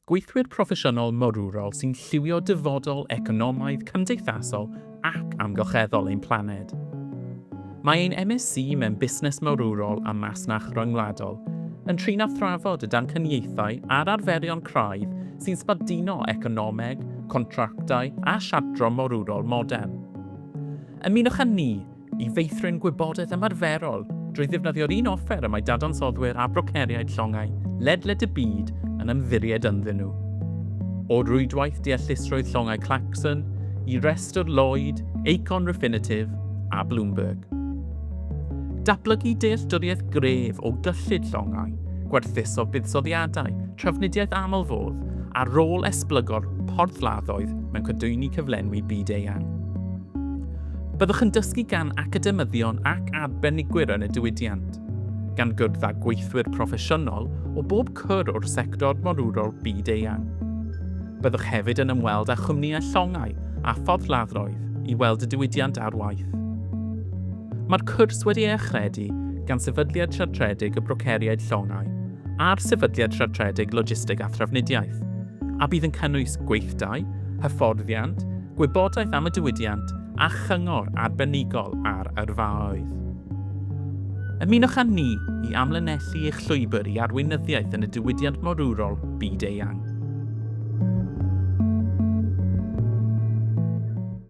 Gweithwyr proffesiynol morwrol sy'n lliwio dyfodol economaidd, cymdeithasol ac amgylcheddol ein planed. Mae ein MSc mewn Busnes Morwrol a Masnach Ryngwladol yn trin a thrafod y damcaniaethau a'r arferion craidd sy'n sbarduno economeg, contractau a siartro morwrol modern. Ymunwch â ni i feithrin gwybodaeth ymarferol drwy ddefnyddio'r un offer y mae dadansoddwyr a broceriaid llongau ledled y byd yn ymddiried ynddyn nhw. O rwydwaith deallusrwydd llongau Clarkson i restr Lloyd, Aecon Refinitiv a Bloomberg. Datblygu dealltwriaeth gref o gyllid llongau, gwerthuso buddsoddiadau, trafnidiaeth aml-fodd a rôl esblygo'r porthladdoedd mewn cadwyni cyflenwi byd-eang. Byddwch yn dysgu gan academyddion ac arbenigwyr yn y diwydiant, gan gwrdd â gweithwyr proffesiynol o bob cwr o'r sector morwrol byd-eang. Byddwch hefyd yn ymweld â chwmnïau llongau a phorthladdoedd i weld y diwydiant ar waith. Mae'r cwrs wedi ei achredu gan Sefydliad Siartredig y Broceriaid Llongau a'r Sefydliad Siartredig Logisteg a Thrafnidiaeth, a bydd yn cynnwys gweithdai, hyfforddiant, gwybodaeth am y diwydiant a chyngor arbenigol ar yrfaoedd. Ymunwch â ni i amlinellu eich llwybr i arweinyddiaeth yn y diwydiant morwrol byd-eang.